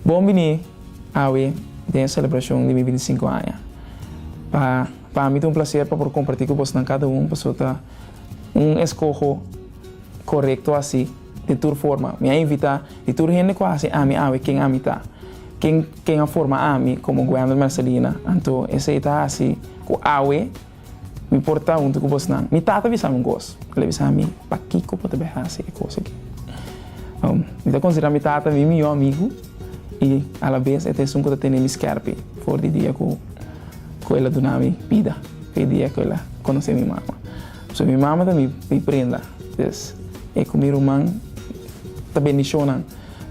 Bon bini awe den e selebrashon di mi binti sinku aña. Pa pa mi ta un plaser pa por kompartí ku bosnan kada un pasobra ta un eskoho korekto asi. Di tur forma, mi a invitá di tur hende ku a hasi ami awe ken ami ta, ken ken a forma ami komo Guender Mercelina, anto esei ta hasi ku awe mi por ta huntu ku bosnan. Mi tata a bisa mi un kos, el a bisa mi, Pakiko bo ta bai hasi e kos aki? Mi ta konsiderá mi tata mi mihó amigu i alabes e ta esun ku ta tene mi skèrpi for di dia ku el a duna mi bida, ku e dia ku el a konosé mi mama. So mi mama ta mi mi prenda pues e ku mi ruman ta bendishonnan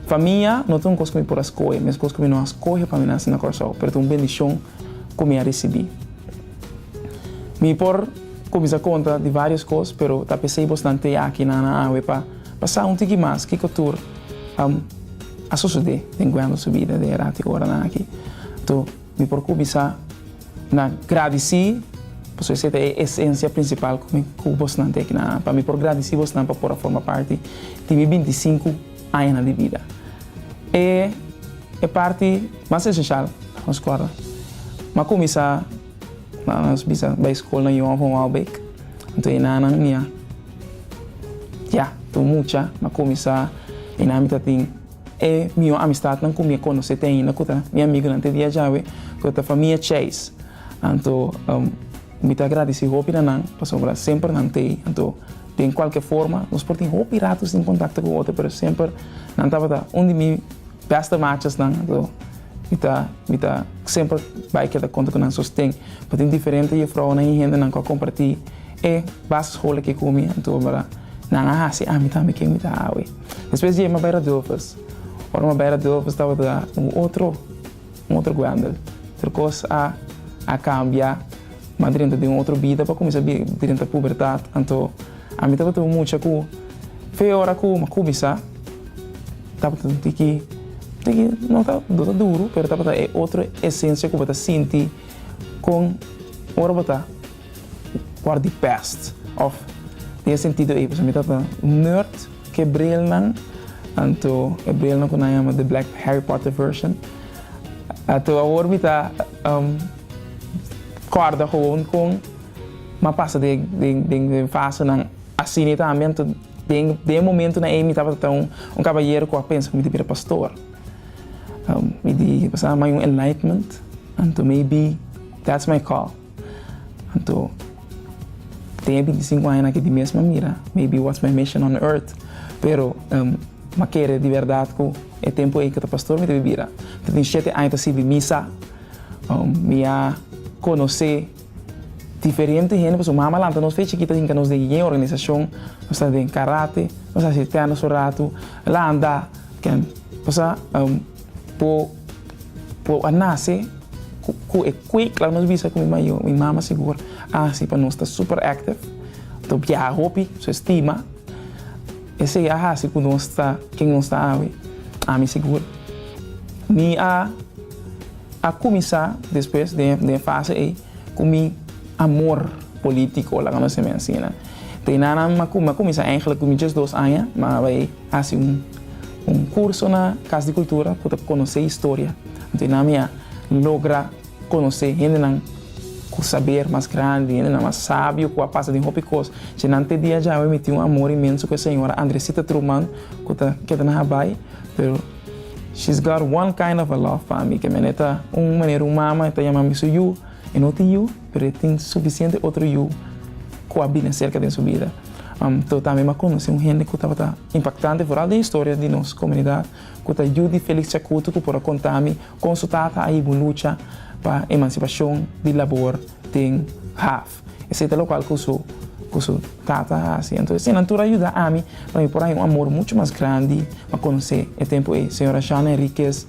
pa mi ya no ta un kos ku mi por a skohe mes kos ku mi no a skohe pa mi nasi na Kòrsou pero ta un bendishon ku mi a risibí mi por kuminsá konta di vários kos pero ta pesei bos nan tei aki na na awe pa pa sa un tiki mas kiko tur a sosodé den kuantu su bida den e ratiku oranan aki to. Mi por cuminsa na gradici, pasobra esey ta e esencia principal cu mi cu bosnan ta aquí na pa mi por gradici bosnan pa por a forma parti di mi binti sinku añanan di bida. E e parti mas esencial ta nos corda m'a cuminsa na nos bisa bay school na Johan von Waalbeek, anto e nanan mia ya tur mucha m'a cuminsa e nan mi ta tin E mihó amistatnan ku mi a konosé te ainda ku ta mi amigunan te dia djawe ku ta famia Chase. Anto mi ta gradisí hopi na nan pasobra semper nan ta ei. Anto den kualke forma nos por tin hopi ratu sin kontakto ku otro pero semper nan tabata un di mi bèste machasnan. Anto mi ta mi ta semper bai keda konta ku nan sosten. Por tin diferente jefrounan i hendenan ku a kompartí. E basisscholen ke ku mi anto mira nan a hasi ami tambe ke mi ta awe. Despues di e mi bai Radovers. Ora mi bai Radovers tabata un otro un otro guendel. Tur kos a a kambia. Mi a drenta den un otro bida pa kuminsá drenta pubertat. Anto ami tabata un mucha ku fe ora ku mi a kuminsá tabata un tiki tiki no ta no ta duru pero tabata e otro esensia ku bo ta sinti kon ora bo ta. Por di pest of di e sentido ey pasobra mi ta ta nerd ke brilnan anto e brilnan ku nan yama the black Harry Potter version ato awor mi ta kòrda gewoon kon ma pasa den den fasenan asina tambe anto den den e momentunan ey mi tabata ta un un kabayero ku a pensa ku mi di bira pastor mi di pasá mai un enlightenment anto maybe that's my call. Anto, den e binti sinku añanan ke tin mes ma mira, maybe what's my mission on earth? Pero, m'a kere di bèrdat ku e tempu ei ku ta pastor mi ta bira. Mi tin shete aña ta sirbi misa, mi a konosé diferente hende, pasobra mama a lanta nos fechi chikit a hinka nos den yeye organisashon, nos ta den karate, nos a hasi tenis un ratu, la a andá ken. Pasobra Bo por a nace cu e cue clau nos bisa cu mi mayo, mi mama sigur ahaci pa nos ta super active, ta biaha hopi, su estima esey a haci cu nos ta ken nos ta awe, ami sigur mi a cuminsa despues den e fase ey cu mi amor politico laga nos e mensina, te nan a cuminsa eigenlijk cu mi djesdos aña ma awe. Hasi un un kurso na Kas di Kultura ku ta konosé historia. Anto nan mi a logra konosé hendenan ku saber mas grandi, hendenan mas sabio ku a pasa den hopi kos. Dje nan te dia dje awe mi tin un amor inmenso ku e señora Andresita Truman ku ta keda na Habai, pero she's got one kind of a love pa mi, ke mi aneta un manera un mama ta yama mi su yu, e no tin yu. pero e tin sufisiente otro yu ku a bini serka den su bida. Teo tambe a konosí un hende ku tabata impaktante foral den historia di nos komunidat, ku ta yu di Felix Chakutu ku por a konta mi kon su tata a hibu lucha pa emansipashon di labor den haf. Esei ta lokal ku su ku su tata a hasi. Anto eseinan tur a yuda ami pa mi por haña un amor muchu mas grandi pa konosé e tempu ei, señora Shana Henriquez,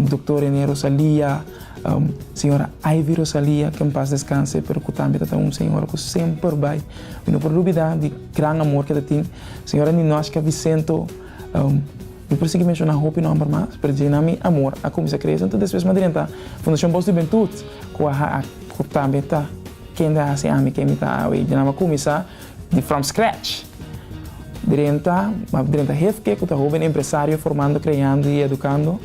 Doktor René Rosalia, Señora Ivy Rosalia, ke en pas descanse, pero ku tambe ta ta un señora ku semper bai. Mi no por lubidá di gran amor ke ta tin. Señora Ninoshka Vicento, mi por sigui menshoná hopi nòmber mas, pero dje nan mi amor a kuminsá krese. Anto despues mi a drenta Fundashon Bòs di Hubentud, ku a ha, ku tambe ta kende a hasi ami ken mi ta awe. Dje nan mi a kuminsá di from scratch. Drenta, mi a drenta hefke ku ta hoben empresario formando, kreando i edukando.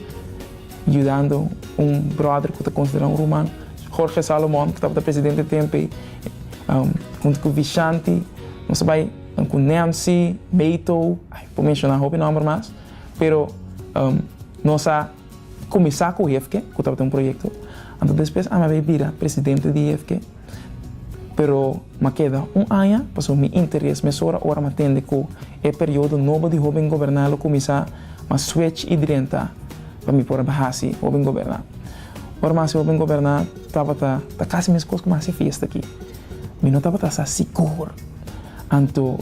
Yudando un bròder ku ta konsiderá un ruman, Jorge Salomon, ku tabata presidente tempu ei, huntu ku Vishanti, nos a bai ku Nancy, Beto, ai por menshoná hopi nòmber mas, pero nos a kuminsá ku Hefke, ku tabata un proyekto, anto despues ami a bai bira presidente di Hefke. Pero m'a keda un aña pasobra mi interes mesora ora m'a tende ku e periodo nobo di hoben goberná lo kuminsá, m'a swech i drenta pa mi por a hasi hoben goberná. Ora m'a hasi hoben goberná tabata ta kasi meskos ku mi hasi fiesta aki. Mi no tabata sa sigur. Anto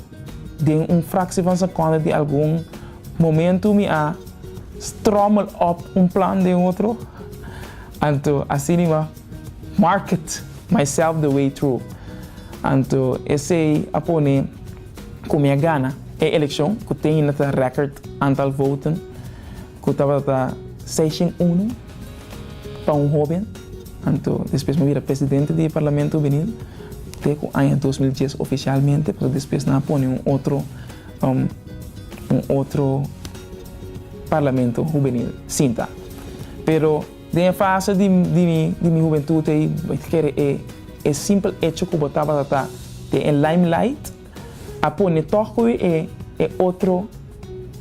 den un fraksie van sekonde di algun momentu mi a strommel op un plan den otro. Anto así nimá. Market myself the way through. Anto esey a pone cu mi a gana e eleccion cu tenina ta record antal voten cu tabata seiscientos uno pa un hoben. Anto despues mi a bira presidente di e Parlamento Hubenil te cu aña dos mil dies oficialmente pasobra despues nan a pone un otro un otro Parlamento Hubenil sinta pero. Den e fase di mi hubentut ei bo ta kere e simpel echo ku bo tabata ta den e limelight a pone tòg pa wi e otro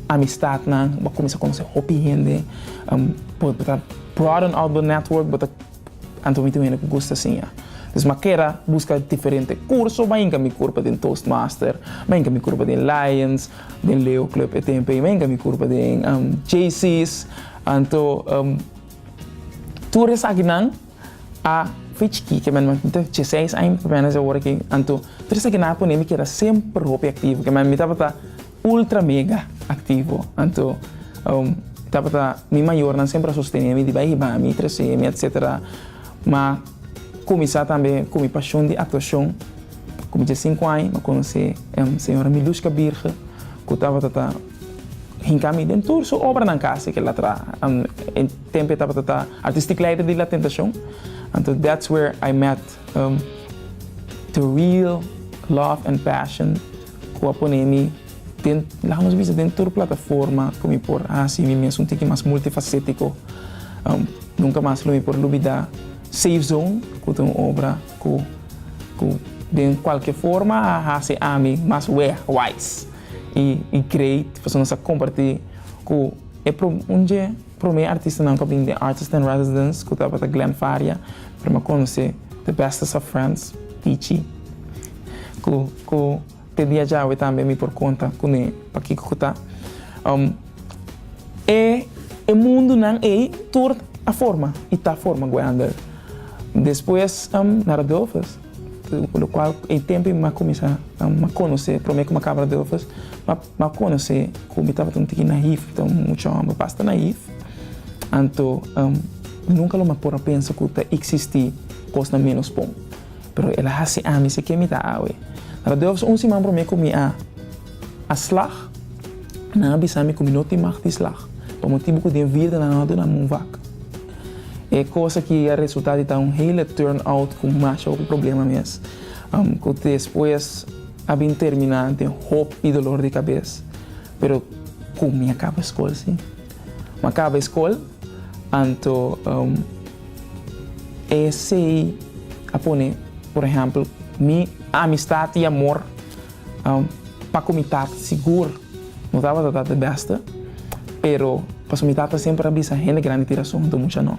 amistatnan, bo a kuminsá konosé hopi hende, bo ta broaden out bo network, bo ta anto mi ta un hende ku gusta siña. Entonces mi a keda buska diferente kurso, mi a hinka mi kurpa den Toastmaster, mi a hinka mi kurpa den Lions, Den Leo Club e tempo ei men ka mi kurpa den um JC's anto um tur esakinan a fei chikí ke men mi ta che seis aña mi ta manager awor aki anto tur esakinan a pone mi keda semper hopi aktivo ke men mi tabata ultra mega aktivo anto um tabata mi mayornan semper a sostene mi di bai hiba mi trese mi etsetera ma Kuminsá tambe ku mi pashon di aktuashon. Ku mi dje sinku aña mi a konosé e señora Milushka Birge ku tabata ta hinká mi den tur su obranan kasi ke latra. E tempu e tabata ta artistic leider di La Tentacion. Anto that's where I met the real love and passion ku a pone mi. Den, laga nos bisa den tur plataforma ku mi por hasi mi mes un tiki mas multifasetico. Nunca mas lo mi por lubida Safe Zone ku ta un obra ku ku den kualke forma a hasi ami mas wegwijs i i great pasobra nos a komparti ku e pro un dje prome artistanan ku a bin den Artist in Residence ku tabata Glen Faria prema konosé The Bestest of Friends Pichi ku ku. Te dia djawe tambe mi por konta kuné pakiko ku ta. E e mundunan ei tur a forma i ta forma Guayander. Despues na Radulfes, lo kual e tempu i m'a kuminsá m'a konosé promé ku m'a kaba Radulfes, m'a m'a konosé ku mi tabata un tiki naïf, mi ta un mucha hòmber basta naïf. Anto nunka lo m'a por a pensa ku ta eksistí kosnan ménos bon. Pero el a hasi ami se ke mi ta awe. Ta na dos un siman promé ku mi a a slag. Nan a bisa mi ku mi no tin mag di slag pa motibu ku den virda nan no a duna mi un vak. E kos aki a resultá di ta un hele turn out ku masha hopi problema mes, ku despues a bin terminá den hopi dolor di kabes. Pero kon mi a kaba skol si? Mi a kaba e skol, anto. Esei a pone, por ehèmpel, mi amistat i amor pa ku mi tata sigur no tabata ta de bèste, pero pasobra mi tata semper a bisa hende grandi tira su huntu mucha no.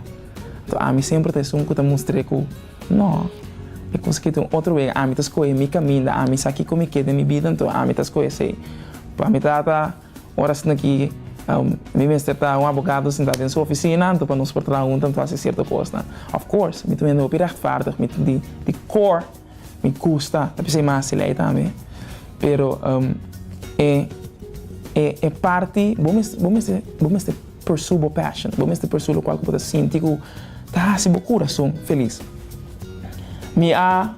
Anto ami semper ta esun ku ta mustr'é ku no. E kos aki ta un otro wega, ami ta skohe mi kaminda, ami sa kiko mi ke den mi bida, anto ami ta skohe esei. Pa mi tata. Ora asina ki mi mester ta un abogado sintá den su ofisina anto pa nos por traha huntu anto hasi sierto kosnan. Of course, mi ta un hende hopi rehtvaardig, mi ta di kor mi gusta ta bisei mas di lei tambe. Pero e e e parti bo mester bo mester bo mester pursue bo passion, bo mester pursue lokual ku bo ta sinti ku ta hasi bo kurason felis. Mi a.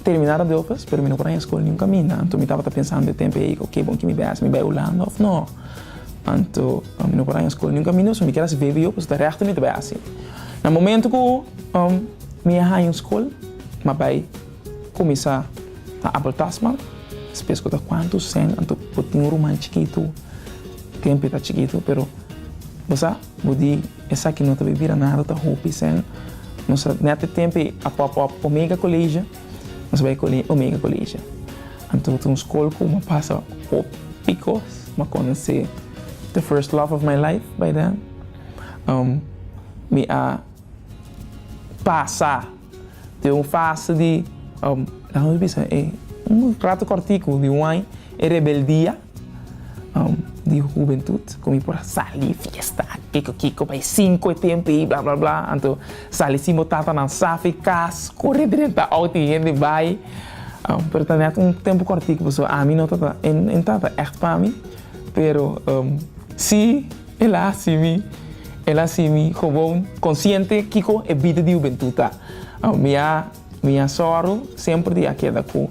Terminá ta dokes, pero mi no por haña skol niun kaminda. Anto mi tabata pensando e tempu ei, oke, bon, ki mi bai hasi? Mi bai Hulanda òf nò? Anto mi no por haña skol niun kaminda, so mi kier hasi vbo, pasobra ta rèkto mi ta bai hasi. Na momentu ku mi a haña un skol, mi a bai kuminsá na Abel Tasman, spes ku ta kuantu? Sèn, anto bo tin un ruman chikitu, tempu ei ta chikitu, pero bo sa. Bo di, Esaki no ta bay bira nada, ta hopi sen. Nos a nete tempe a pop up Omega College. Nos bay cole Omega College. Anto ta un school cu m'a pasa hopi cos. M'a conoce the first love of my life bay den. Mi a pasa den un fase di, laga nos bisa, un rato cortico di un ay, e rebeldia. di hubentut ku mi por a sali fiesta a kiko kiko bai sinku e tempu ei bla bla bla anto sali sin bo tatanan saf e kas kore drenta out i hende bai pero ta nèt un tempu kòrtiku pasobra ami no ta e no ta ègt pa mi pero si el a hasi mi el a hasi mi gewoon konsiente kiko e bida di hubentut ta mi a mi a sòru semper di a keda ku.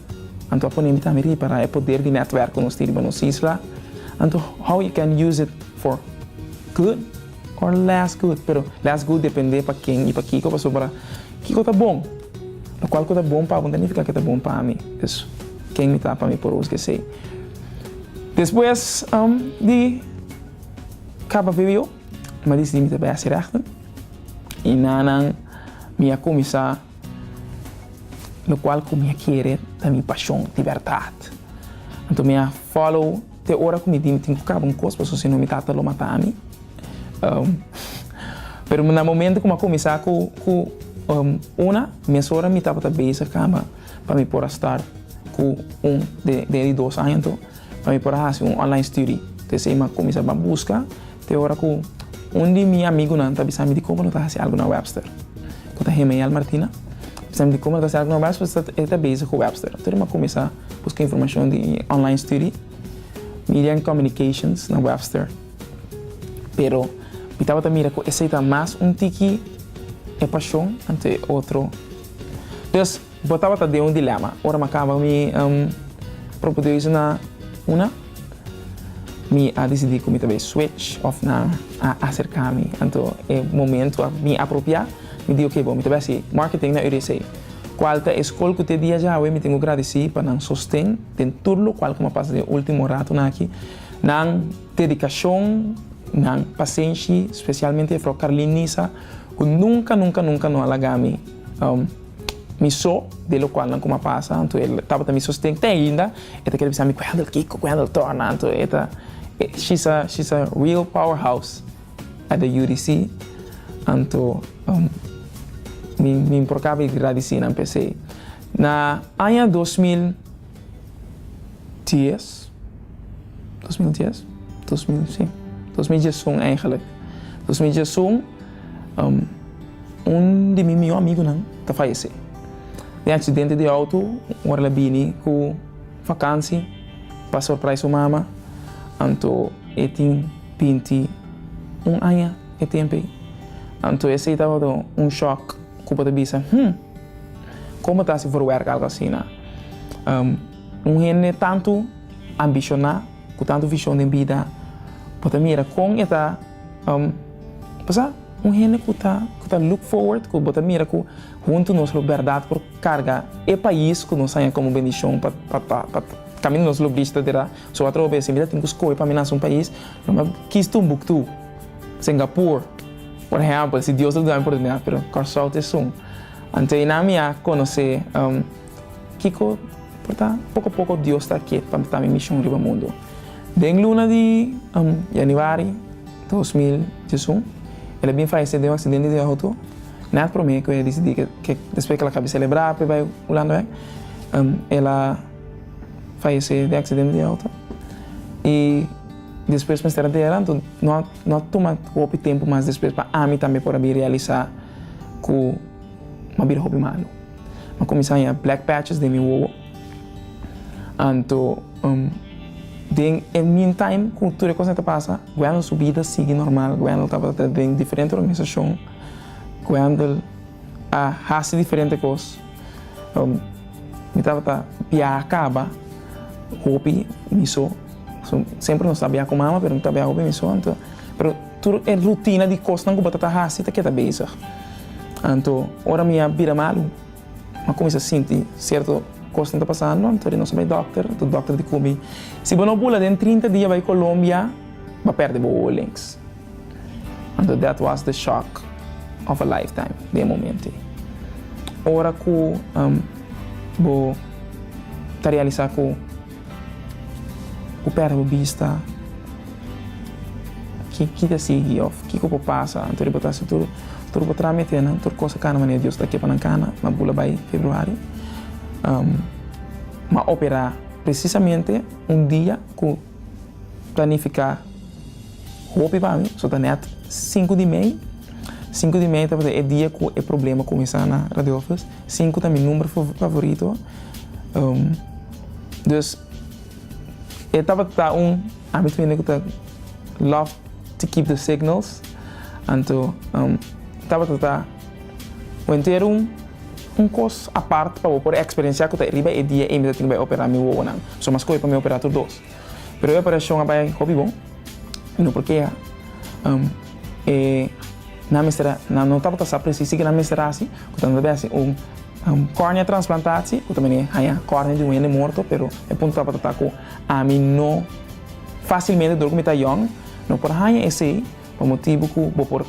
Anto a pone mi tambe ripara e poder di netwerk ku nos tin riba nos isla. Anto how you can use it for good or less good, pero less good depende pa ken i pa kiko pasobra kiko ta bon, lokual ku ta bon pa bo ta nifiká ke ta bon pa mi, dus ken mi ta pa mi por us gesei. Despues di kaba vbo mi a disidi mi ta bèsti rèkte i na nan mi a kuminsá. lo cual cu mi a kere ta mi pasion, di berdad. Anto mi a follow te ora cu mi di mi tin cu caba un cos pasobra si no mi tata lo mata mi. Pero na momento cu mi a cuminsa cu cu una, mesora mi tabata bezig camba pa mi por a start cu un den den di dos aña anto. pa mi por a hasi un online studi. Ta esei mi a kuminsá pa buska te ora ku un di mi amigunan ta bisa mi di komo no ta hasi algu na Webster. Ku ta Hemael Martina bisa mi di komo no ta hasi algu na Webster pasobra e ta bezig ku Webster. Tur mi a kuminsá buska informashon di online studi Media and Communications na Webster. Pero mi tabata mira ku esei ta mas un tiki e pashon anto e otro. Bo tabata den un dilema. Ora mi a kaba mi propedeuse na una, mi a disidí ku mi ta bai switch òf nan a aserká mi. Anto e momentu a bin apropiá, mi di oke bo, mi ta bai hasi marketing na UDC. Kual ta e skol ku te dia dja awe mi tin ku gradisí pa nan sosten den tur lokual ku mi a pasa den e último ratonan aki. Nan dedikashon, nan pasenshi, spesialmente e frou Carlin Nisa ku nunka nunka nunka no a lagá mi. Mi so, de locual nan coma pasa, anto el tabata mi sosten, te ainda, e ta kere bisa mi Wendel kico, Wendel torna, anto e ta, she's a, she's a real powerhouse at the UDC, anto mi, mi por caba di gradicinan p'esey. Na aña dos mil. dies, dos mil dies, dos mil si, dos mil dies un eigenlik, dos mil dies un un di mi mihó amigunan ta fayesé den aksidente di outo ora el a bini ku vakansi pa sorprais su mama, anto e tin binti un aña e tempu ei, anto esei tabata un shòk. Cu bo ta bisa, Hm! Como ta haci for werk algo asina? Un hende tantu ambicioná, cu tantu vision den bida, bo ta mira con e ta pasá? Un hende cu ta cu ta look forward, cu bo ta mira cu huntu nos lo berdad por carga e pais cu nos haña como bendicion pa pa pa pa caminda nos lo bisti ta dira so atrobe, si mi ta tin cu scoge pa mi nace un pais, lo mi a kis Tumbuctú, Singapur. Por ehempel, si Dios lo duna mi oportunidad, pero Kòrsou ta esun, anteina mi a konosé kiko por ta poko poko Dios ta kiet pa ta mi mishon riba mundu. Den luna di yanüari dos mil diesun, el a bin falesé den un aksidente di outo, nèt promé ku e disidí ke despues ke el a kabe selebrá p'e bai Hulanda bèk, el a falesé den aksidente di outo i despues mester a dera. No a tuma hopi tempu mas despues pa ami tambe por a bin realisá ku mi a bira hopi malu. Mi a kuminsá haña black patches den mi wowo. Anto, den e meantime ku tur e kosnan ta pasa, Wendel su bida sigui normal. Wendel tabata ta den diferente organisashon. Wendel a hasi diferente kos. Mi tabata bia kaba hopi mi so, so semper nos ta bia ku mama pero mi ta bia hopi mi so anto pero tur e rutina di kosnan ku bo ta ta hasi ta keda bezig anto ora mi a bira malu mi a kuminsá sinti sierto kosnan ta pasando anto nos a bai dòkter anto dòkter a di ku mi si bo no bula den trinta dia bai Colombia bo a pèrdè bo oolings. Anto dat was de shock of a lifetime den e momento ei. Ora ku bo ta realisa ku bo perde bo bista, ki ta sigui of kiko por pasa anto di bo ta hasi tur bo trametenan, tur kos a kana manera Dios ta ke pa nan kana, ma bo lo bai Februari, bo a opera presisamente un dia ku planifiká. Hopi pami so ta net sinku di mei, sinku di mei tabata e dia ku e problema kuminsá na Radio Office, sinku ta mi number favorito, dus e tabata un ami tambe ku ta love to keep the signals, anto tabata ta bo enter un kos apart pa bo por eksperensiá ku ta e riba e dia ei mi ta tin ku bai operá mi wowonan, so mas kohe pa mi operá tur dos. Pero e operashon a bai hopi bon i no por keha. E nan mester, nan no tabata sa presis tike nan mester hasi, ku ta debe hasi un kòrnia transplantatie, ku ta mester haña kòrnia di un hende morto, pero e punto tabata ta ku ami no fasilmente dor ku mi ta yòn no por haña esei pa motibu ku bo por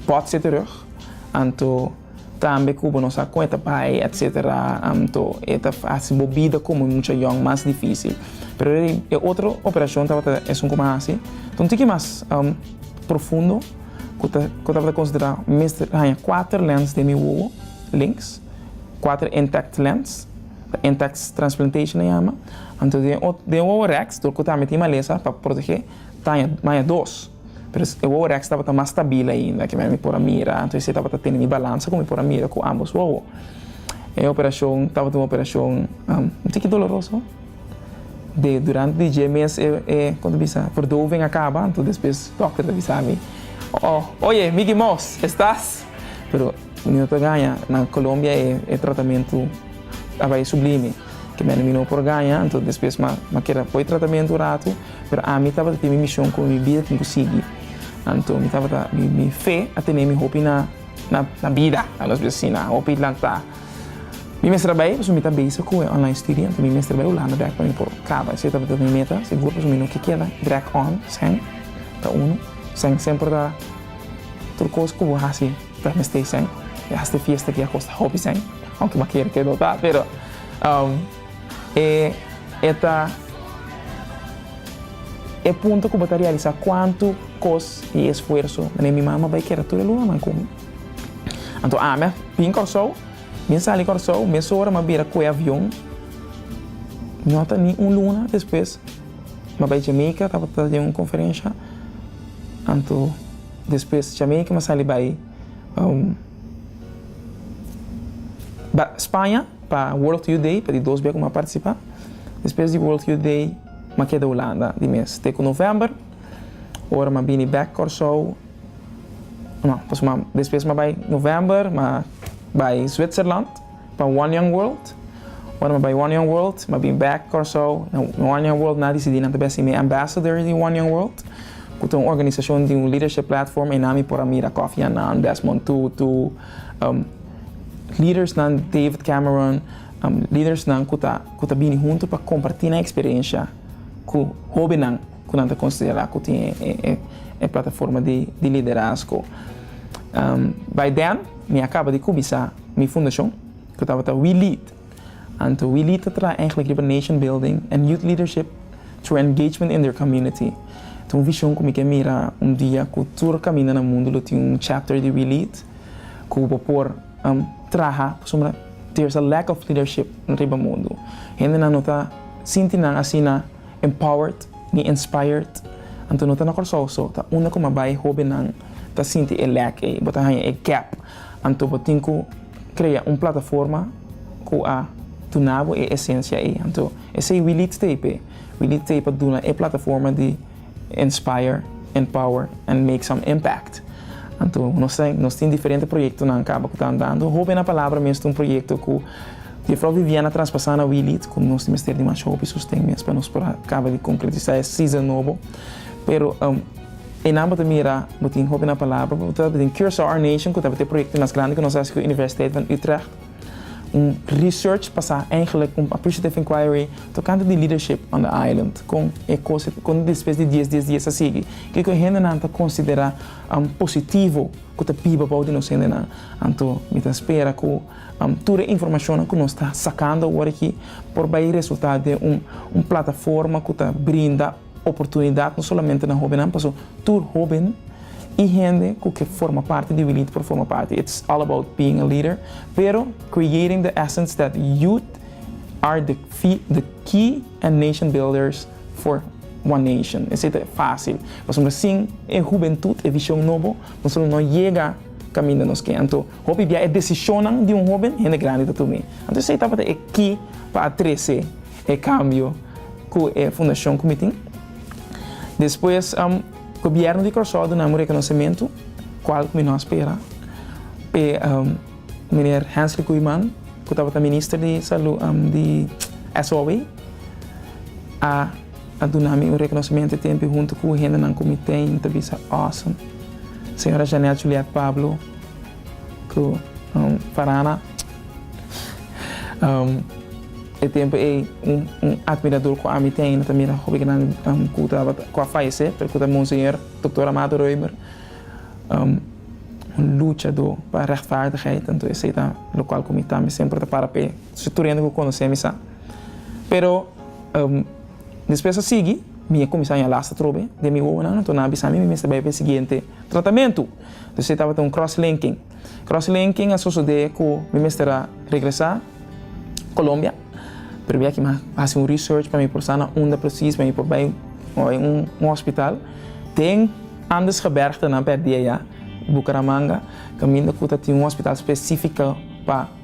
bòt set'e rug, anto. Tambe Cuba nos a cuenta bai etc. Anto e ta haci bo bida como mucha young mas dificil. Pero e di e otro operacion tabata esun como a haci ta un tiki mas profundo cu ta cu tabata considera mester haña cuater lens den mi wowo, links, cuater intact lens, intact transplantation a yama. Anto den den wowo rex dor cu tambe tin malesa pa protege ta haña dos. Pero e wowo Rex tabata mas stabil ainda ke men mi por a mira, anto esei tabata tene mi balansa ku mi por a mira ku ambos wowo. E operashon tabata un operashon un tiki doloroso. De durante di dje mes e, e kon ta bisa, verdoving a kaba, anto despues dòkter ta bisa mi, Oye, Micky Mous, estas? Pero. Mi no ta gaña na Colombia e tratamentu a bai sublime, kimendi mi no por gaña, anto despues m'a keda poi tratamentu un ratu, pero ami tabata tin mi mishon ku mi bida tin ku sigui. Anto mi tabata, mi fe a tenemi hopi na bida, nos bisa si na hopi lanta. Mi mester a bai pasobra mi ta bezig ku e online studi, anto mi mester bai Hulanda dirèk pa mi por kaba, esei tabata mi meta sigur pasobra mi no ke keda dirèk on sèn ta unu, sèn semper ta tur kos ku bo hasi. P'e mester esei, e hasta e fiesta aki a kosta hopi esei, aunke m'a kere keda ta, pero e e ta e punto ku bo ta realisa kuantu kos i esfuerso manera mi mama bai keda tur e lunanan ku mi. Anto ami a bin Kòrsou, bin sali Kòrsou, mesora m'a bira kue avion, no ta ni un luna despues m'a bai Jamaica tabata den un konferensha, anto. Despues Jamaica mi sali bai Spaña pa World Youth Day pa di dos bia ku mi a partisipá. Despues di World Youth Day mi a keda Hulanda di mes te ku November ora mi a bini bek Kòrsou. No, pasobra despues mi a bai November mi a bai Zwitserland. Pa One Young World, Ora mi a bai One Young World, mi a bin bek Kòrsou. Na One Young World mi a disidí nan ta bin hasi mi ambassador di One Young World, ku ta un organisashon di un leadership platform einan mi por a mira Kofi Annan, Desmond Tutu, lidersnan, David Cameron, lidersnan ku ta ku ta bini huntu pa kompartí nan eksperensha ku hóbennan ku nan ta konsiderá ku tin e plataforma di liderazgo. Bai den mi a kaba di kubisá. mi fundashon, ku tabata We Lead. Anto We Lead ta traha eigenlijk riba nation building en youth leadership through engagement in their community. Ta un vishon ku mi ke mira un dia ku tur kaminda na mundu lo tin un chapter di We Lead ku bo por traha pasobra there's a lack of leadership riba mundu. Hendenan no ta sinti nan asina empowered ni inspired. Anto no ta na Kòrsou so, ta unda kuma bai hobennan ta sinti e lack ei, bo ta haña e gap. Anto bo tin ku krea un plataforma ku a duna bo e esensia ei. Anto esei wi lid t'ei p'e. Wi lid t'ei pa duna e plataforma di inspire, empower and make some impact. Anto nos ta nos tin diferente proyektonan kaba ku ta andando. Hopi na palabra mes ta un proyekto ku Jufrou Viviana traspasá na wi lid ku nos ta mester di masha hopi sosten mes pa nos por a kaba di konkretisá e season nobo. Pero. E nan bo ta mira, bo tin hopi na palabra, bo ta den Curaçao Our Nation ku tabata e proyekto mas grandi ku nos hasi ku Universiteit van Utrecht, un research basá eigenlik un appreciative inquiry tokante di leadership on the island, kon e kos kon despues di dies dies dies a sigui, kiko e hendenan ta konsiderá positivo ku ta biba bou di nos hendenan. Anto mi ta spera ku tur e informashonnan ku nos ta sakando awor aki por bai resultá den un plataforma ku ta brinda. Oportunidad no solamente na hobennan paso tur hoben y hende cu ke forma parti di Wili'T por forma parti it's all about being a leader pero creating the essence that youth are the the key and nation builders for one nation esey ta facil pasobra sin e hubentud e vision nobo nos solo no yega caminda nos ke anto hopi bia e decisionnan di un hoben hende grandi ta tumi anto esey tabata e key pa a trece e cambio cu e fundacion cu mi tin. Despues Gobierno di Curaçao duna mi reconocemento cual cu mi no a spera p'e Meneer Hensley Koeiman cu tabata Minister di Salud di SOW a duna mi un reconocemento e tempo hunto cu hendenan cu mi tin ta bisa awesome. Señora Jeanette Juliette Pablo. Ku Farana. E tempu ei un admiradur ku ami ten ta mira hopi grandi ku tabata ku a fayesé pero ku ta monseñor Doktor Amado Roemer, un luchadó pa rechtvaardigheid, anto esei ta lokual ku mi tambe semper ta para p'e. Su tur hende ku konos'é mi sa. Pero despues a sigui mi a kuminsá ña lasta trobe den mi wowonan, anto nan a bisa mi mi mester bai p'e siguiente tratamentu. Dus e tabata un cross-linking. Cross-linking a sosodé ku mi mester a regresá Colombia, pero bier aki mi a hasi un research pa mi por sa na unda presis pa mi por bai bai un hospital den Andesgebergtenan, pèrdia ya, Bucaramanga, kaminda ku ta tin un hospital spesífiko pa.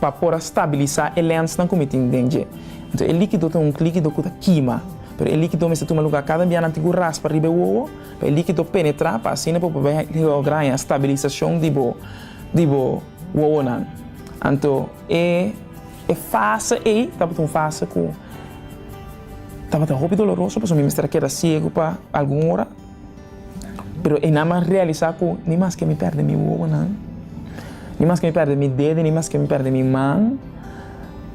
Pa por a stabilisa e lensnan ku mi tin den dje. Anto e likido ta un likido ku ta kima. Pero e likido mester tuma luga kada bianan tin ku raspa riba e wowo pa e likido penetra pa asina bo por logra e stabilisashon di bo di bo wowonan. Anto e e fase ei tabata un fase ku tabata hopi doloroso pasobra mi mester a keda siegu pa algun ora. Pero e nan a realisá ku ni maske mi pèrdè mi wowonan, ni maske mi pèrdè mi dede, ni maske mi pèrdè mi man,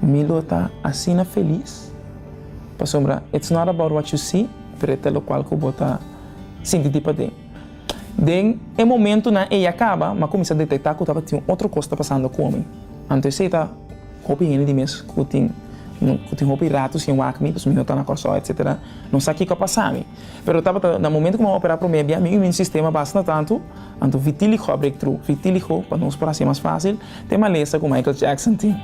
mi lo ta asina felis, pasobra it's not about what you see, pero e ta lokual ku bo ta sinti di paden. Den e momentunan ei a kaba, m'a kuminsá detektá ku tabatin un otro kos ta pasando ku mi. Anto esei ta hopi hende di mes ku tin ku tin hopi rato sin wak mi, pasobra mi no ta na Kòrsou, etsetera, no sa kiko a pasami. Pero tabata na momento cu mi a opera prome bia, mi ui mi sistema bastanta tanto, anto vitiligo a break through, vitiligo pa nos por haci mas facil, te malesa cu Michael Jackson tin,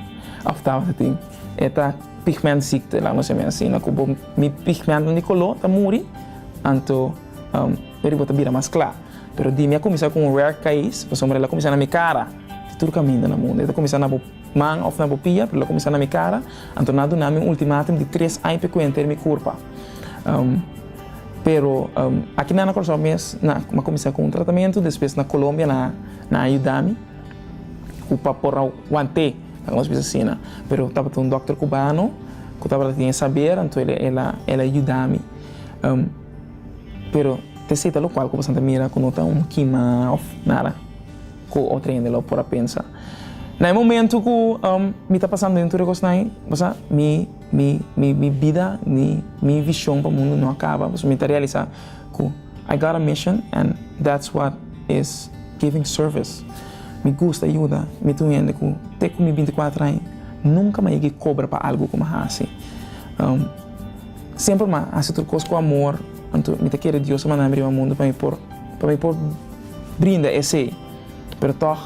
of tabata tin, e ta pigmentziekte laat me seme asina, cu bo mi pigmenten di color ta muri, anto maybe bo ta bira mas cla, pero di mi a cuminsa cu un rare case, pasobra el a cuminsa na mi cara, di tur caminda na mundo, el ta cuminsa na bo man of na bo pia, pero el a cuminsa na mi cara, anto nan a dunami un ultimatum di tres aña pa e cuenta di mi curpa. Pero aki nan na Curaçao mes na cuminsa cu un tratamento despues na Colombia nan a yuda mi cu pa por a wante lo cu nos bisa asina pero tabata un doctor cubano cu tabata tin e saber anto el a yuda mi pero ta esey ta locual cu pasobra ta mira cu no ta un kima of nada cu otro hende lo por a pensa na e momento cu mi ta pasando den tur e cosnan mi. Mi mi bida ni mi vishon pa mundu no a kaba pasobra mi ta realisá ku I got a mission and that's what is giving service. Mi gusta yuda, mi ta un hende ku te ku mi binti kuater aña nunka m'a yega kobra pa algu ku m'a hasi. Semper m'a hasi tur kos ku amor, anto mi ta kere Dios a manda mi riba mundu pa mi por pa mi por brinda esei. Pero tòg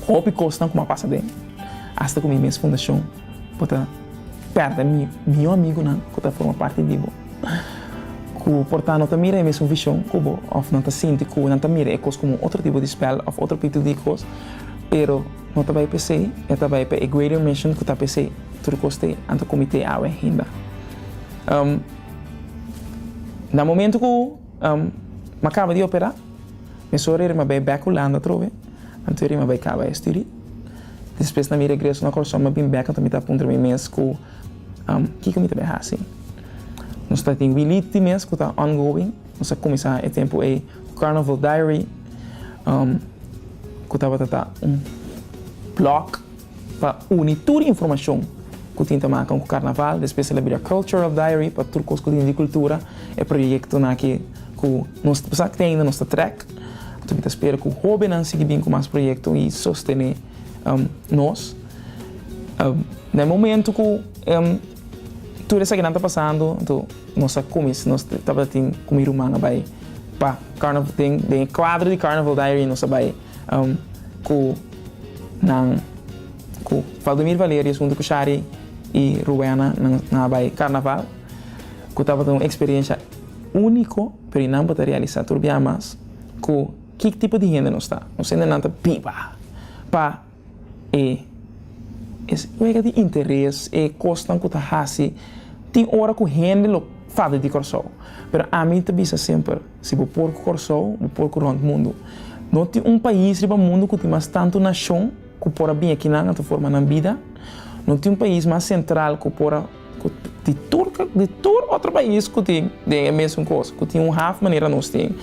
hopi kosnan ku m'a pasa den asta ku mi mes fundashon Bo ta perde mi mihó amigunan ku ta forma parti di bo, ku por ta no ta mira e mesun vishon ku bo òf nan ta sinti ku nan ta mira e kos komo un otro tipo di spèl òf otro pitu di kos. Pero no ta bai p'esei, e ta bai pa e greater mission ku ta p'esei tur kos ta e anto komitee awe hinda. Na momentu ku mi a kaba di operá, mi sòru e riba bai bèk Hulanda atrobe, anto e riba bai kaba e studi. Despues na mi regreso na Kòrsou mi bin bèk mi ta puntra mi mes ku kiko mi ta bin hasi. Nos ta tin Willie tin mes ku ta ongoing, nos a kuminsá e tempu ei ku Carnival Diary ku tabata ta un blòg pa uni tur informashon ku tin ta maka ku karnaval, despues el a bira Cultural Diary pa tur kos ku tin di kultura, e proyektonan aki ku nos ta pasá kende, nos ta trèk. Mi ta spera cu hobennan sigui bin cu mas proyecto y sostene nos. Na e momento cu tur esakinan ta pasando, anto nos a cuminsa, nos tabatin cu mi ruman a bay pa carnaval, den e cuadro di Carnaval Diary nos a bay cu nan, cu Valdomir Valerius hunto cu Shari y Rowena, nan a bay carnaval, cu tabata un experiencia unico. Pero i nan por ta realisá tur biaha mas ku ki tipo di hende nos ta. Nos hende nan ta biba pa e es wega di interes, e kosnan ku ta hasi. Tin ora ku hende lo fabri di Kòrsou, pero ami ta bisa semper, si bo por ku Kòrsou, bo por ku rònt mundu. No tin un pais riba mundu ku tin mas tantu nashon ku por a bin aki nan a ta forma nan bida. No tin un pais mas sentral ku por a. Cu di tur di tur otro pais cu tin den e mesun cos, cu tin un haf manera nos tin,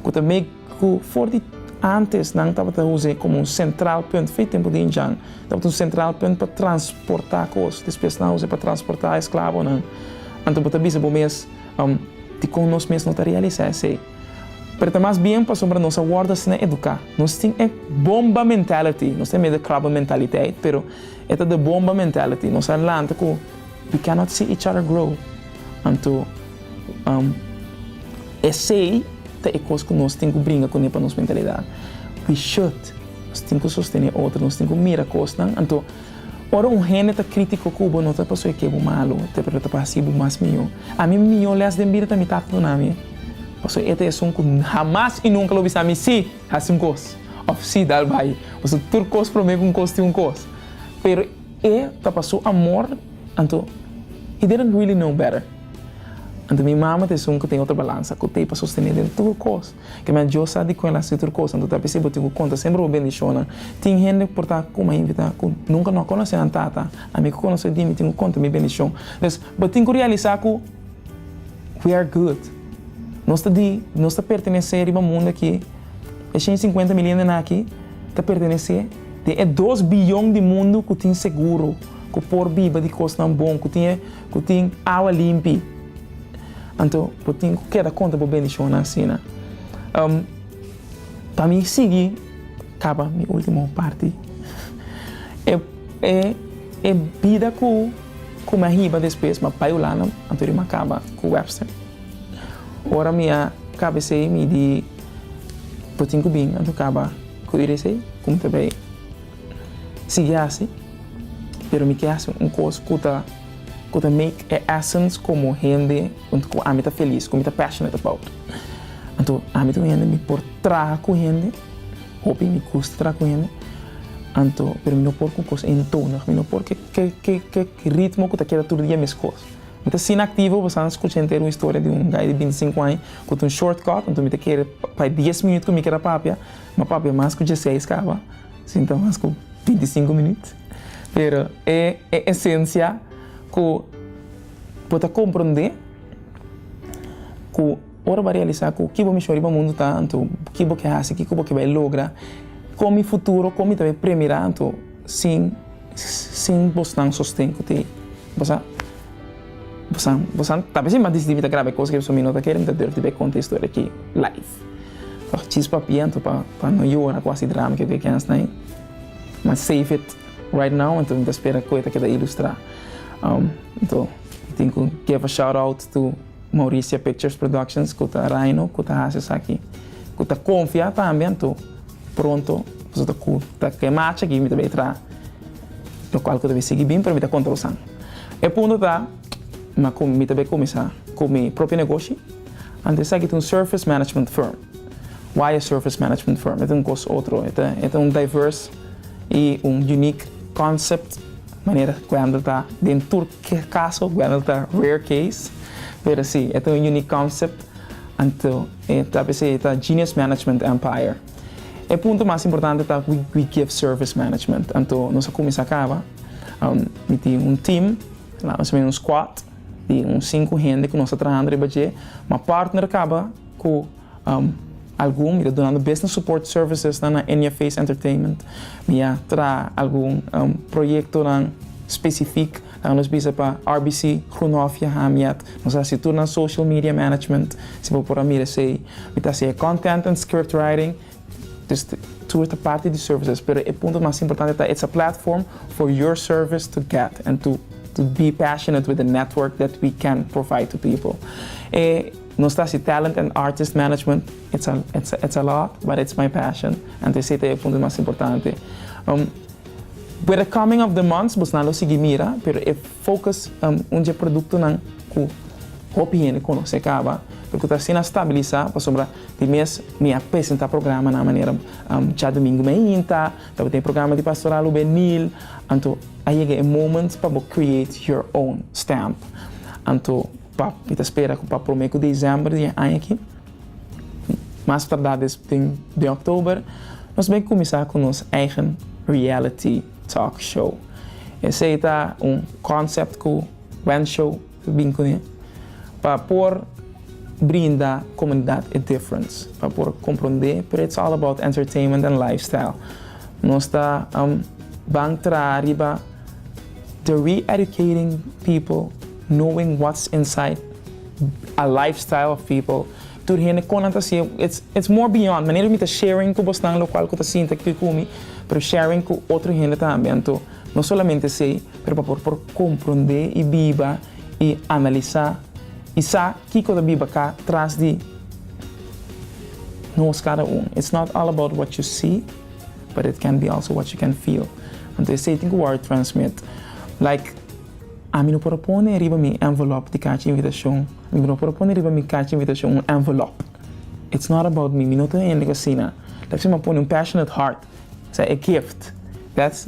cu ta make cu for di antes nan tabata uze como un central punt fin tempo di Indian tabata un central punt pa transporta cos despues nan uze pa transporta esclavonan anto bo ta bisa bo mes dicon nos mes no ta realisa esey pero ta mas bien pasobra nos a wordo asina educa nos tin e bomba mentality nos ta meda crabba mentaliteit pero. E ta de bomba mentality, nos a lanta cu we cannot see each other grow. Anto, esey ta e cos cu nos tin cu bringa cun'e pa nos mentalidad. We should, nos tin cu sostene otro, nos tin cu mira cosnan. Anto, ora un hende ta critico cu bo, no ta pasobra cu e bo malo, pero ta pa haci bo mas miyo. A mi mi miyo les den bida ta mi tata dunami, pasobra e ta esun cu hamas y nunca lo bisa mi si. Hasi un kos, òf sí, dal bai. Pasobra tur kos promé ku un kos tin un kos. Pero e ta pa su amor, anto he didn't really know better. Anto mi mama ta esun ku tin otro balansa ku t'ei pa sostené den tur kos. Ke mei Dios sa di ku el hasi tur kos, anto ta p'esei bo tin ku konta semper bo bendishonnan. Tin hende por ta ku mai invitá ku nunka no a konosé nan tata. Ami ku konosé dimi tin ku konta mi bendishon. Entonces bo tin ku realisá ku. We are good. Nos ta di, nos ta pertenesé riba mundu akí. E shen i sinkuenta mil hendenan akí ta pertenesé den e dos biyon di mundu ku tin seguro, ku por biba di kosnan bon, ku tin e, ku tin awa limpi. Anto bo tin ku keda konta bo bendishonnan asina. Um, pa mi sigui kaba mi último parti. E, e, e bida ku. Ku mi a hiba despues mi a bai Hulanda, anto di mi a kaba ku Webster. Ora mi a kaba esei mi di bo tin ku bin anto kaba ku iri esei ku mi ta bai sigui hasi, pero mi ke hasi un kos ku ta ku ta make e essence komo hende ku ami ta felis, ku mi ta passionate about. Anto ami ta un hende mi por traha ku hende. Hopi mi custa traha cu hende, anto, pero mi no por cu cos eentonig, mi no por cu ke ritmo cu ta keda tur dia mescos. Mi ta sina activo, pasanan scucha henter un historia di un guy di binti sinku aña cu ta un short cut, anto mi ta kere pa e dies minuut cu mi keda papia, mi a papia mas cu diesseis caba, sin ta mas cu binti sinku minuut. Pero e e esencia cu bo ta comprende cu. Ora bo a realisá ku ki bo mishon riba mundu ta, anto ki bo ke hasi, kiko bo ke bai logra, kon mi futuro, kon mi ta bai premirá, anto sin sin bosnan sosten ku tin bosan bosan bosan ta bisin mas disitivo i ta graba e kos ke beso mi no ta kere mi ta durf di bai konta e historia aki live pa chispa papia anto pa pa no yora ku hasi drama ke ke hasta ahí mi save it right now anto mi ta spera ku e ta keda ilustrá anto tin ku give a shout out to. Mauricia Pictures Productions ku ta Rhino ku ta hasi esaki ku ta konfia tambe anto pronto boso ta kuta ku e macha aki mi ta bai traha lokual ku ta bai sigui bin pero mi ta konta boso an e punto ta ma ku mi ta bai kuminsá ku mi propio negoshi anto esaki ta un surface management firm why a surface management firm e ta un kos otro e ta un diverse i un unique concept. Manera Gwendel ta den tur ke kaso, Gwendel ta rare case, pero si, e ta un unique concept, anto e ta bis'e e ta Genius Management Empire. E punto mas importante ta ku we give service management, anto nos a kuminsá kaba, mi tin un team, laga nos meen un squad, di un sinku hende ku nos ta trahando riba dje, mi a partner kaba ku. Algun mi ta dunando business support servicesnan na in your face entertainment. Mi a traha algun proyektonan spesifik loke nos bisa pa RBC Groenhof y Hamiet. Nos a hasi tur nan social media management, si bo por a mira esei. Mi ta hasi e content and script writing, dus tur ta parti di services, pero e punto mas importante ta it's a platform for your service to get and to be passionate with the network that we can provide to people. Nos ta hasi Talent and Artist Management, it's a it's a it's a lot, but it's my passion, anto esei ta e punto mas importante. Um, with the coming of the months, bos nan lo sigui mira, pero e focus um, un dje productonan cu hopi hende conoce caba, lo cu ta hasi nan stabilisa, pasobra di mes mi a presenta programa nan manera um, Dja Domingo mi a hinta, lo cu ta e programa di Pastoral Hubenil, anto a yega e moment pa bo create your own stamp. Anto Pa mi ta spera ku pa prome ku desèmber di e aña aki, mas tardá des fin den òktober, nos bin kuminsá ku nos eigen reality talk show. Esei ta un konsèpt ku Wen Show ta bin kuné pa por brinda komunidat e difference, pa por komprondé, pero it's all about entertainment and lifestyle. Nos ta ban traha riba. The re-educating people knowing what's inside a lifestyle of people tur hende kon nan ta siye it's it's more beyond manera ku mi ta sharing ku bosnan lo kual ku ta sinta kiko ku mi pero sharing ku otro hende tambe anto no solamente esei pero pa por por komprondé i biba i analisá i sa kiko ta biba ka tras di nos kada un it's not all about what you see. But it can be also what you can feel. Anto esei tin ku wòrdu transmit. Like, ami no por a pone riba mi envelòp di kachi invitashon, mi no por a pone riba mi kachi invitashon un envelòp. It's not about mi, mi no ta un hende ku asina. Lo ku si mi a pone un passionate heart, esei e gift. That's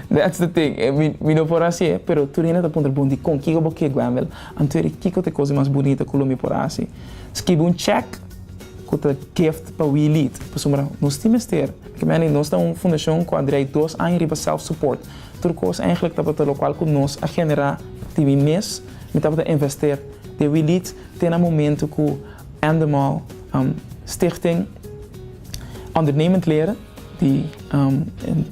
that's the thing. Mi mi no por a hasi e, pero tur hende ta puntra bon di kon kiko bo ke Gwendel? Anto e di kiko ta e kos di mas bunita ku lo mi por a hasi? Skibi un chèk. Cu ta gift pa We Lead. Pasobra nos tin mester. Porque manei nos ta un fundacion cu a draai dos aña riba self-support. Tur cos eigenlijk tabata locual cu nos a genera di mi mes. Mi tabata invester den We Lead te na momento cu Endemol Stichting Ondernemend Leren. Di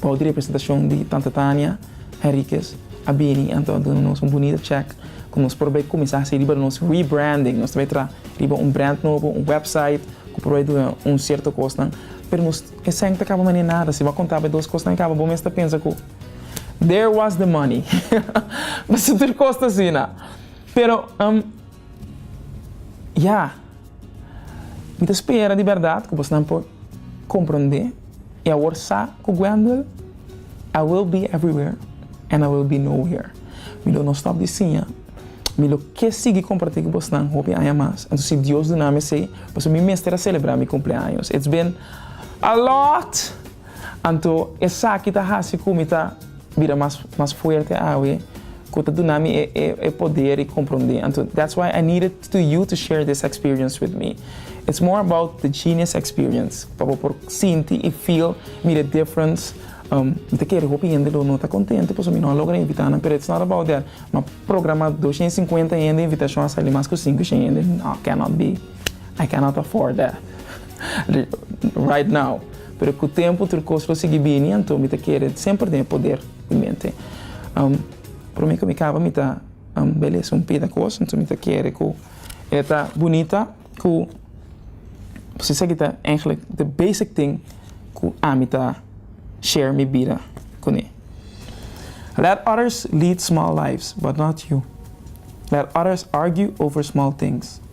pau di representashon di tanta Tania Henriquez a bini anto a duna nos un bunita chèk ku nos por bai kuminsá hasi riba nos rebranding. Nos ta bai traha riba un brand nobo, un wèpsait ku por bai duna un sierto kosnan. Pero nos esèn ta kaba manera nada. Si bo a konta bai dos kosnan i kaba bo mes ta pensa ku there was the money. Pasobra tur kos ta asina. Pero, ya. Mi ta spera di bèrdat ku bosnan por komprondé i awor sa ku Gwendel, I will be everywhere and I will be nowhere. Mi lo no stòp di siña, mi lo ke sigui kompartí ku bosnan hopi aña mas, anto si Dios duna mi esei, pasobra mi mester a selebrá mi kumpleaños. It's been a lot! Anto esaki ta hasi ku mi ta bira mas mas fuerte awe, ku ta duna mi e poder i komprondé. Anto that's why I needed to you to share this experience with me it's more about the genius experience pa bo por sinti y feel mi the difference um mi ta kere hopi hende lo no ta contento pasobra mi no a logra invita nan pero it's not about that ma programa doshen y cincuenta hende invitacion a sali mas cu cinco shen hende no cannot be I cannot afford that right now pero cu tempo tur cos lo sigui bini anto mi ta kere semper den e poder mi mente um prome cu mi caba mi ta. Am belesa un pida cos anto mi ta kere cu e ta bunita cu pues esaki ta eigenlijk the basic thing cu ami ta share mi bida cune Let others lead small lives but not you Let others argue over small things.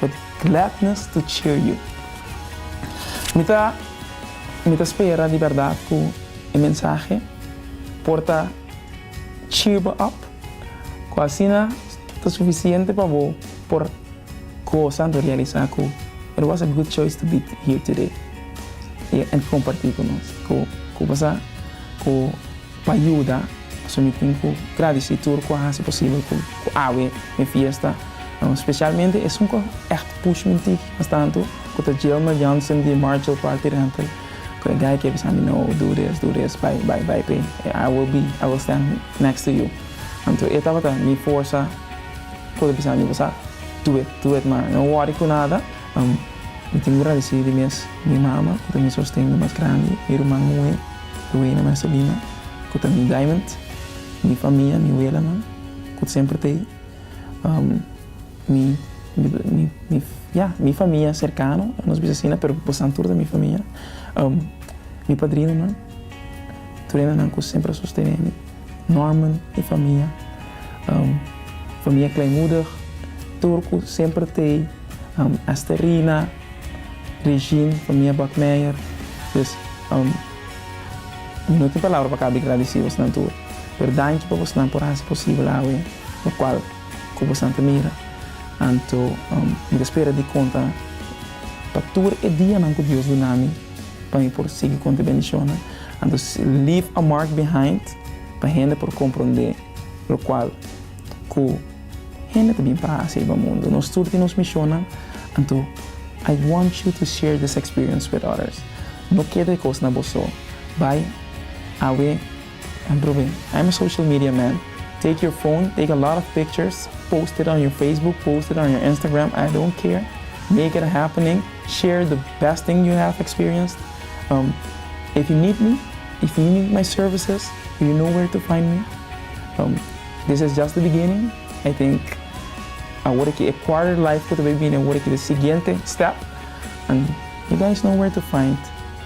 With gladness to cheer you. Mi ta mi ta spera di berdad cu e mensahe por ta cheer bo up, cu asina ta suficiente pa bo por goza anto realisa cu it was a good choice to be here today y comparti cu nos cu cu pasa cu Pa yuda, so mi tin ku gradisí tur ku a hasi posibel ku ku awe e fiesta, spesialmente esun ku ègt push mi tiki, mastantu ku ta Jilmer Jansen di Marchel Party Rental, ku e guy ke bisa mi no, do this, do this, bai, bai, bai p'e, I will be, I will stand next to you. Anto e tabata mi forsa ku ta bisa mi, Bosa do it, do it man, no wòri ku nada. Mi tin gradesí di mes mi mama ku ta mi sosten di mas grandi, mi ruman muhé Luena Marcelina ku ta mi diamond, mi famia, mi welanan ku semper ta mi famia serkano, nos bisa asina pero bosan tur ta mi famia, mi padrinonan, turenan nan ku semper a sostené mi. Norman e famia famia kleinmoedig tur ku semper tei Esterina Regine famia Bakmeijer dus mi no tin palabra pa kaba di gradisi bosnan tur pero danki pa bosnan por hasi posibel awe lokual ku bosnan ta mira anto mi ta spera di konta pa tur e dianan ku Dios dunami. Pa mi por sigui konta e bendishonnan, anto leave a mark behind pa hende por komprondé lokual ku hende ta bin pa hasi riba mundu. Nos tur tin nos mishonnan, anto I want you to share this experience with others. No keda e kos na bo so. Bai awe. And Ruben, I'm a social media man, take your phone, take a lot of pictures, post it on your Facebook, post it on your Instagram, I don't care, make it a happening, share the best thing you have experienced, um, if you need me, if you need my services, you know where to find me, um, this is just the beginning, I think awor aki e quarter life ku ta bai bini, awor aki ta e siguiente step, and you guys know where to find.